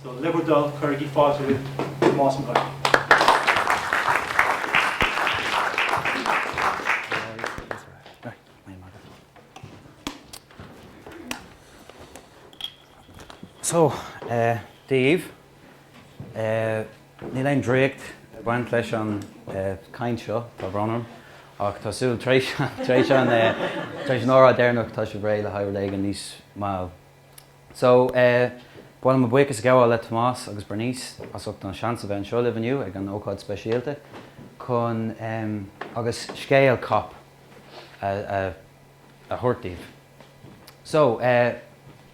So le bhur dtoil cuirigí fáilte roimh Tomás Mac Uidhir. So, daoibh, níl aon draíocht ag baint leis an gcaint seo, tá brón orm, ach tá súil tar éis an tar éis an tar éis an óráid deireanach tá sibh réidh le haghaidh rud éigin níos mall So eh ba mhaith liom buíochas a ghabháil le Tomás agus Bernice as ucht an seans a bheith anseo libh inniu ag an ócáid speisialta chun em agus scéal cop a a a thabhairt daoibh. So eh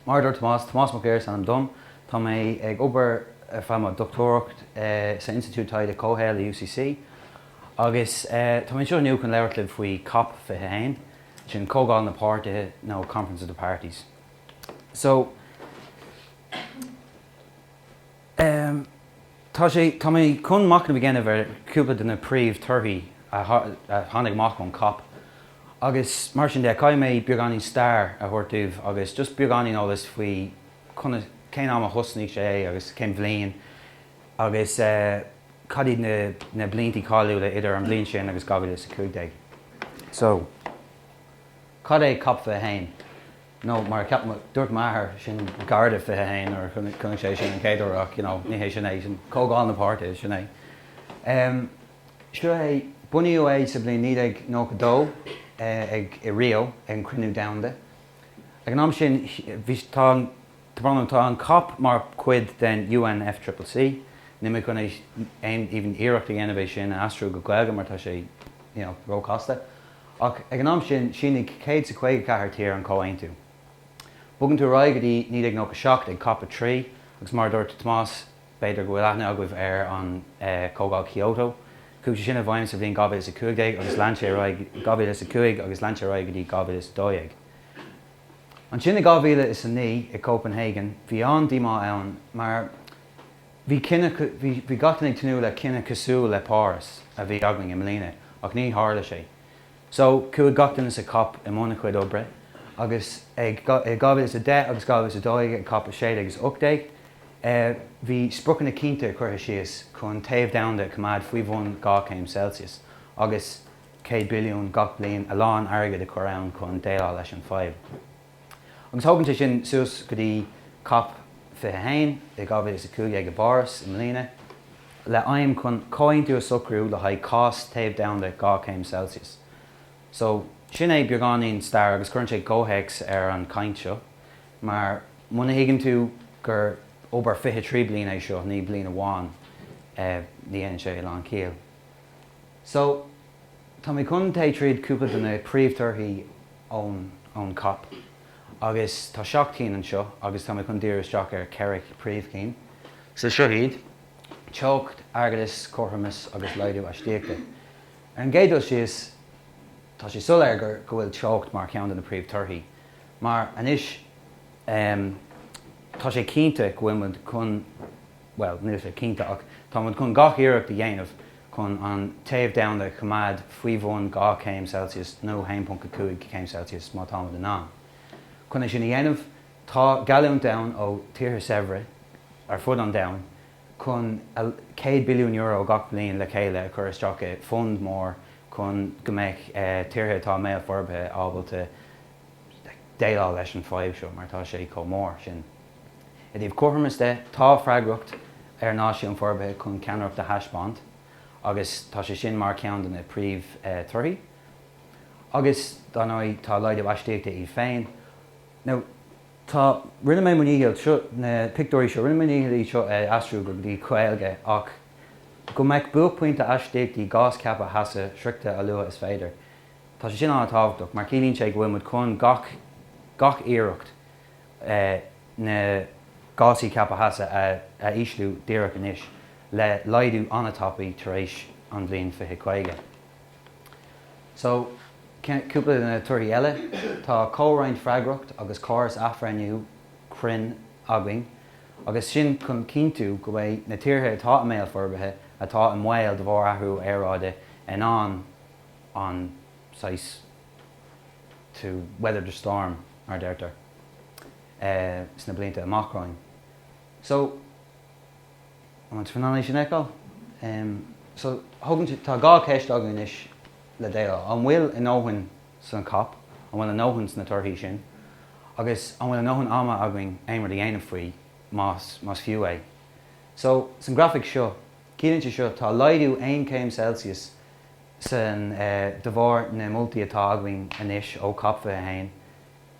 mar a dúirt Tomás, Tomás Mac Uidhir is ainm dom, tá mé ag obair ar feadh mo dochtúireacht eh sa Institiúid Taighde Comhshaoil i UCC agus eh tá mé anseo inniu chun labhairt libh faoi cop 21, sin Comhdháil na Páirtithe nó Conference of the Parties. So, em, tá sé, tá mé chun machnamh a dhéanamh ar cúpla de na príomh torthaí a tháinig amach ón Cop agus mar sin de, caithfidh mé beagáinín stair a thabhairt daoibh agus just beagáinín eolas faoi conas, cén am a thosnaigh sé agus cén bhliain agus eh, cad iad na, na bliantaí cáiliúla idir an bhliain sin agus 2015. So. Cad é Cop 21? Nó mar a cheap mé, dúirt m'athair, sin Garda 21 nuair a chonaic sé sin an chéad uair ach, you know, ní hé sin é, sin Comhdháil na bPáirtithe, sin é. Seo é, bunaíodh é sa bhliain 1992 ag, i Rio ag an Cruinniú Domhanda. Ag an am sin bhí, tá an, tá brón orm, tá an Cop mar chuid den UNFCCC, níl mé chun é, aon, even iarracht a dhéanamh é sin a aistriú go Gaeilge mar tá sé, you know, róchasta. Ach ag an am sin shínigh 154 tír an comhaontú. Bogann tú ar aghaidh go dtí 1997 ag cop 3 agus mar a dúirt Tomás b'fhéidir go bhfuil aithne agaibh ar an Chomhdháil Kyoto. Chuaigh sé sin i bhfeidhm sa bhliain 2015 agus lean sé ar aghaidh 2005 agus lean sé ar aghaidh go dtí 2012. Ansin i 2009 i Copenhagen bhí an-díomá ann mar, Bhí gach duine ag tnúth le cinneadh cosúil le Páras a bhí againn i mbliana ach ní tharla sé. So, chuaigh gach duine sa Cop i mbun a chuid oibre agus i 2010 agus 2012 ag Cop 16 is 18, bhí spriocanna cinnte curtha síos chun téamh domhanda a choimeád faoi bhun 2 céim Celsius agus 100 billiún gach bliain, a lán airgid a chur ann chun déileáil leis an fadhb. agus tugann sé sin suas go dtí cop 21 i 2015 i bPáras i mbliana, le aidhm chun comhaontú a socrú le haghaidh cás téamh domhanda 2 céim Celsius. So, sin é beagáinín stair agus cuireann sé comhthéacs ar an chaint seo, mar muna thuigeann tú gur obair 23 bliain é seo, ní bliain amháin, ní dhéanann sé a lán ciall. So, tá mé chun plé tríd cúpla de na príomh torthaí ón ón cop agus tá seacht gcinn anseo agus tá mé chun díriú isteach ar cheithre príomh chinn. So seo iad, teocht, airgeadas, cothromas agus laghdú astaíochta. Ar an gcéad dul síos, tá sé soiléir gur go bhfuil teocht mar cheann de na príomh torthaí mar anois, em, tá sé cinnte go bhfuil muid chun. bhuel, níl sé cinnte ach táimid chun gach iarracht a dhéanamh chun an téamh domhanda a choimeád faoi bhun 2 chéim Celsius nó 1.5 céim Celsius má táimid in ann. Chun é sin a dhéanamh tá geallúint domhanda ó tíortha saibhre ar fud an domhan chun €100 billiún gach bliain le chéile a chur isteach i bhfund mór chun go mbeidh tíortha atá i mbéal forbartha ábalta déileáil leis an bhfadhb seo mar tá sé chomh mór sin. I dtaobh cothromais de, tá freagracht ar Náisiúin Forbartha chun ceannaireacht a thaispeáint agus tá sé sin mar cheann de na príomh torthaí. Agus dár ndóigh tá laghdú astaíochta iad féin. Now tá, rinne mé mo ndícheall seo, na pictiúirí seo, rinne mé mo ndícheall iad seo a aistriú go dtí Gaeilge ach go mbeidh buaicphointe astaíochtaí gás ceaptha theasa sroichte a luaithe is féidir. Tá sé sin an-tábhachtach mar ciallaíonn sé go bhfuil muid chun gach, gach iarracht. na gásaí ceaptha theasa a ísliú díreach anois le laghdú an-tapaidh tar éis an bhliain 2050. So, cúpla de na torthaí eile, tá comhroinnt freagracht agus córas athbhreithniú cruinn againn agus sin chun cinntiú go bhfuil na tíortha atá i mbéal forbartha atá i mbaol de bharr athrú aeráide in ann an saghas to weather the storm mar a deirtear, sna blianta amach romhainn. So, is féidir linn é sin a fheiceáil. Em, so, tugann si-, tá dhá cheist againn anois le déileáil. An bhfuil a ndóthain san cop, an bhfuil a ndóthain sna torthaí sin, agus an bhfuil a ndóthain ama againn aon rud a dhéanamh faoi, más, más fiú é. So, san grafaic seo, ciallaíonn seo, tá laghdú 1 céim Celsius sin de bharr na moltaí atá againn anois ó cop 21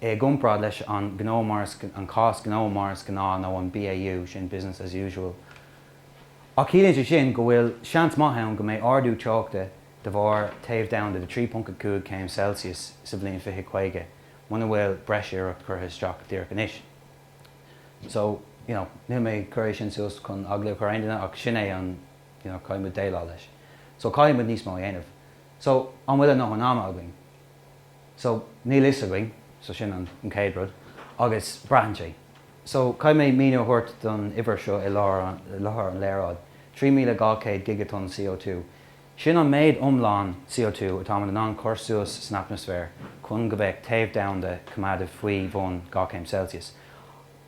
i gcomparáid leis an gnó mar is an cás gnó mar is gnáth nó an BAU, sin business as usual. Ach ciallaíonn sé sin go bhfuil seans maith ann go mbeidh ardú teochta de bharr téamh domhanda de 3.5 céim Celsius sa bhliain 2050 muna bhfuil breis iarracht curtha isteach díreach anois. So, you know, níl mé ag cur é sin suas chun eagla a chur ar aon duine ach sin é an you know caithfidh muid déileáil leis so caithfidh muid níos mó a dhéanamh so an bhfuil a ndóthain ama againn so níl fhios againn so sin an chéad rud agus braitheann sé so caithfidh mé míniú a thabhairt don uimhir seo i láthair an léaráid 3200 gigatonn CO2 sin an méid iomlán CO2 atáimid in ann cur suas san atmaisféar chun go mbeadh téamh domhanda coimeádta faoi bhun 2 céim Celsius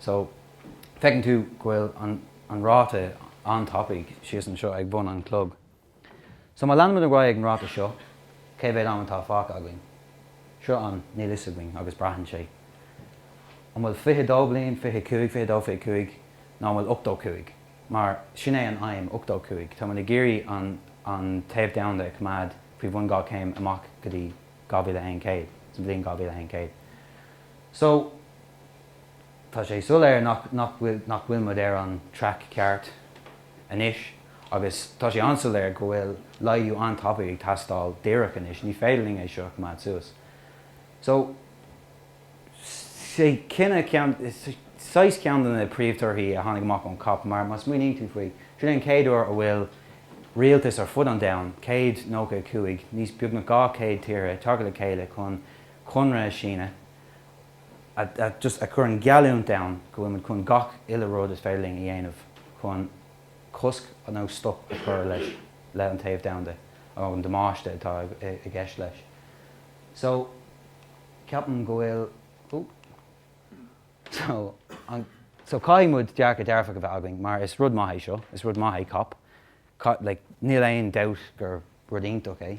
So, feiceann tú go bhfuil an ráta an-tapaidh síos anseo ag bun an chlog. So, má leanaimid ar aghaidh ag an ráta seo, cé mhéad am atá fágtha againn? Seo an níl 'fhios againn agus braitheann sé an bhfuil 22 bliain, 25, 22, 25 nó an bhfuil 85 mar sin é an aidhm, 85. Táimid ag iarraidh an an téamh domhanda a choimeád faoi bhun 2 céim amach go dtí 2100, sa bhliain 2100. So. Tá sé soiléir nach bhfuil muid ar an traic ceart anois agus tá sé an-soiléir go bhfuil laghdú an-tapaidh ag teastáil díreach anois. Ní féidir linn é seo a choimeád suas. So, sé sin ceann, saghas ceann de na príomhthorthaí a tháinig amach ón cop mar má smaoiníonn tú faoi, sin é an chéad uair a bhfuil rialtas ar fud an domhain, 195, níos beagnach 200 tíortha ag teacht le chéile chun conradh a síniú. a chuireann geallúint domhanda go bhfuil muid chun gach uile rud is féidir linn a dhéanamh chun cosc nó stop a chur leis, le an téamh domhanda, an damáiste atá i gceist leis. So, ceapaim go bhfuil, ooh, so, an, so caithfidh muid dearcadh dearfach a bheith againn mar is rud maith é seo, is rud maith é cop, like níl aon dabht gur rud iontach é.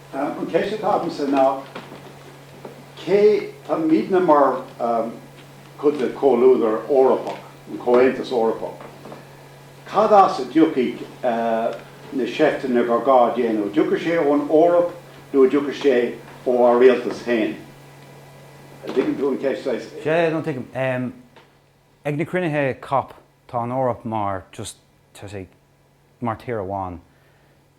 An cheist atá agamsa ná cé, tá muidne mar chuid de chomhluadar Eorpach, an Comhaontas Eorpach, cad as a dtiocfaidh na seifteanna gur gá a dhéanamh? An dtiocfaidh sé ón Eoraip nó an dtiocfaidh sé ó ár rialtas féin? An dtuigeann tú an cheist saghas? Sea, no tuigim. Ag na cruinnithe cop tá an Eoraip mar just mar tír amháin.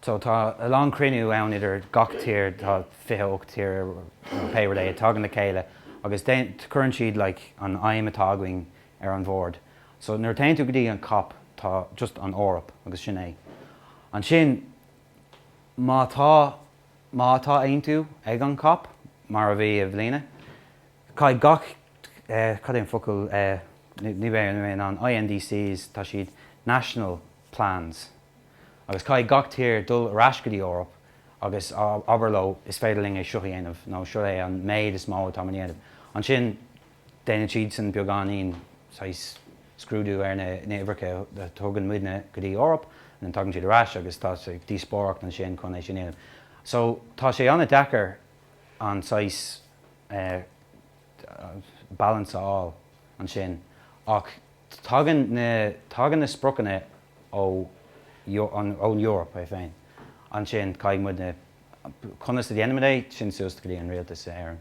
So tá a lán cruinniú ann idir gach tír, tá fiche ocht tír a tagann le chéile agus cuireann siad like an aidhm atá againn ar an bhord. So nuair a téann tú go dtí an cop tá just an Eoraip agus sin é. Ansin má tá, má tá aontú ag an cop mar a bhí i mbliana, caithfidh gach eh, cad é an focal eh, ní bheidh mé in ann, na INDCs, tá siad, national plans, Agus caithfidh gach tír dul ar ais go dtí Eoraip agus abair leo is féidir linn é seo a dhéanamh nó seo é an méid is mó atá muid in ann a dhéanamh. Ansin déanann siadsan beagáinín saghas scrúdú ar na uimhreacha a thugann muidne go dtí Eoraip and then tagann siad ar ais agus tá díospóireacht ansin chun é sin a dhéanamh. So tá sé an-deacair an saghas eh, balance a fháil ansin ach tagann na tagann na spriocanna ón Eoraip é féin ansin caithfidh muid na conas a déanaimid é sin suas go dtí an rialtas in Éirinn.